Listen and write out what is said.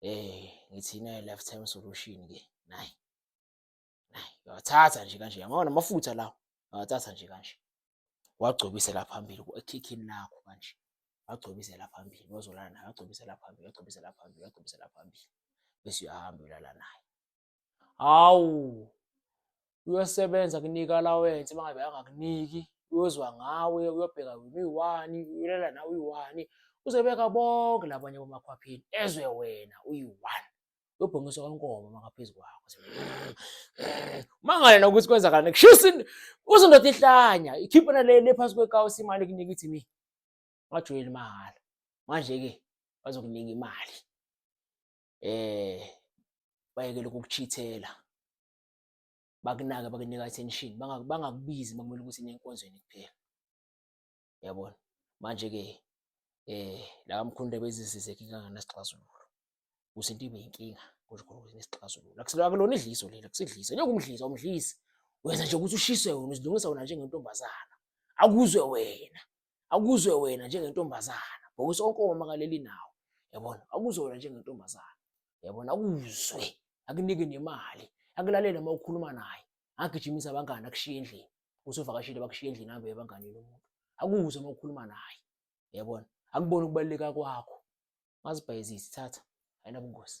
eh ngithi nayo lifetime solution ke nayi nayi yathatha nje kanje yabona namafutha lawo yathatha nje kanje wagcobisela phambili ekhikhini lakho kanje wagcobisela phambili wazolala naye wagcobisela phambili wagcobisela phambili wagcobisela phambili bese uyahamba ulala naye hawu uyosebenza kunika allowance uma ngabe angakuniki uyozwa ngawe uyobheka wena uyiwani uyolela nawe uyiwani uzobeka bonke labanye bomakhwaphini ezwe wena uyi-one uyobhongiswa kwenkomo makaphezu kwakho mangale nokuthi kwenzakalani kushisa uzindoda ihlanya ikhiphe nalele phansi kwekawusi imali kunika ithi mi ungajoyeli mahhala manje-ke bazokunika imali eh bayekele ukukuchithela bakunake bakunika attention bangakubizi makumele ukuthi nenkonzweni kuphela yabona manje ke eh la kamkhulu bezizizeke kanganasixazululo kuze into ibe inkinga kusho khona ukuthi nesixazululo akulona idliso leli akusidliso njengoba umdlisa umdlisi wenza nje ukuthi ushiswe wena uzilungisa wena njengentombazana akuzwe wena akuzwe wena njengentombazana because onke omama kaleli nawo yabona akuzwe wena njengentombazana yabona akuzwe akunike nemali akulalele uma ukhuluma naye agijimisa abangani akushiye endlini usuvakashile bakushiye endlini ahambe ebanganini umuntu akuzwe uma ukhuluma naye yabona akubona ukubaluleka kwakho ngazibhayizisi thatha ayinabungozi